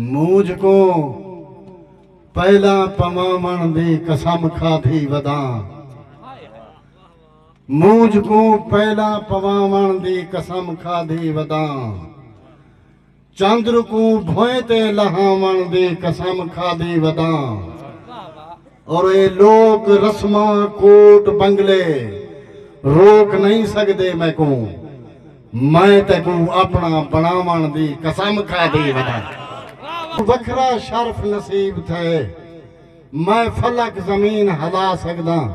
مونجھ کوں پہلاں پواوݨ دی قسم کھادھی وداں مونجھ کوں پہلاں پواوݨ دی قسم کھادھی وداں چندر کوں بھوئیں تے لہاوݨ دی قسم کھادھی وداں اور اے لوک رسماں کوٹ بنگلے روک نئیں سڳدے میکوں میں تیکوں اپنا بنڑاون دی قسم کھا دی ودا۔ وکھرا شرف نصیب تھئے۔ میں فلک زمین ہلا سگداں۔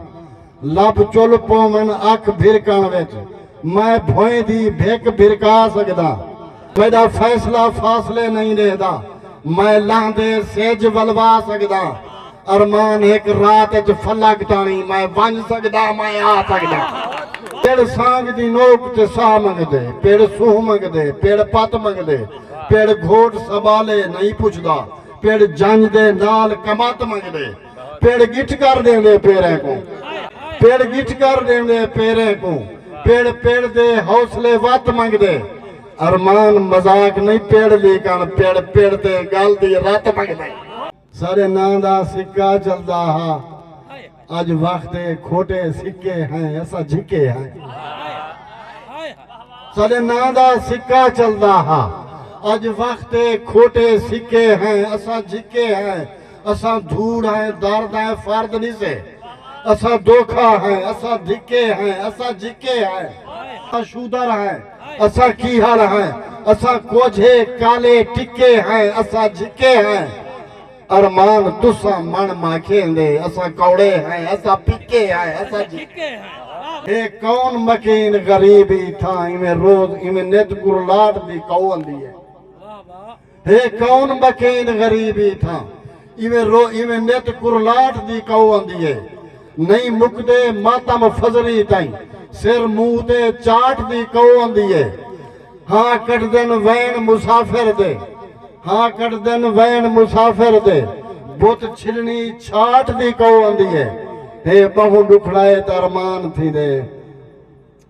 لب چل پوون اکھ بھرکن وچ۔ میں بھوئیں دی بھک بھرکا سگداں۔ میڈا فیصلہ فاصلے نئیں ڈیہدا۔ میں لہندے سجھ ولوا سگداں۔ ارمان ہک رات اچ فلک تاݨی میں ونج سگدا میں آ سگدا پڑ سانگ دی نوک تے ساہ منگدے پڑ سونہہ منگدے پڑ پت منگدے پڑ گھوٹ سبالے نئیں پچھدا پڑ جنج دے نال کمت منگدے پڑ گٹھ کر ݙیندے پیریں کوں پڑ گٹھ کر ݙیندے پیریں کوں پڑ پڑ دے حوصلے وت منگدے ارمان مذاق نئیں پڑ لیکݨ پڑ پڑ دے ڳل دی رت منگدے۔ سارے ناں دا سکہ چلدا ہا اج وخت اے کھوٹے سکے ہیں اساں جھکے ہیں سارے ناں دا سکہ چلدا ہا اج وخت اے کھوٹے سکے ہیں اساں جھکے ہیں اساں دھوڑ ہیں درد ہیں فرد نہیں سے اساں دھوکا ہیں اساں دھکے ہیں اساں جھکے ہیں اساں شودر ہیں اساں کیہاڑ ہیں اساں کوجھے کالے ٹکے ہیں اساں جھکے ہیں ارمان تساں من ماکھیں دے اساں کوڑے ہیں اساں پکے ہیں اساں جھکے ہیں۔ اے کون مکین غریب ای تھاں ایویں روز ایویں نت گرلاٹ دی کہو اندی ہے۔ ہے کون بکین غریب ای تھاں ایویں رو ایویں نت کرلاٹ دی کئو آندی ہے نئیں مکدے ماتم فضری تئیں سر منہ تے چاٹ دی کئو آندی ہے ہاں کڈھدن وین مسافر دے ہاں کڈھدن وین مسافر دے بت چھلنی چھاٹ دی کئو آندی ہے ہے بہوں ڈکھڑا اے تے ارمان تھیندے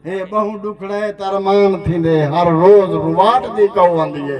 ہے بہوں ڈکھڑا اے تے ارمان تھیندے ہر روز رواٹ دی کئو آندی ہے۔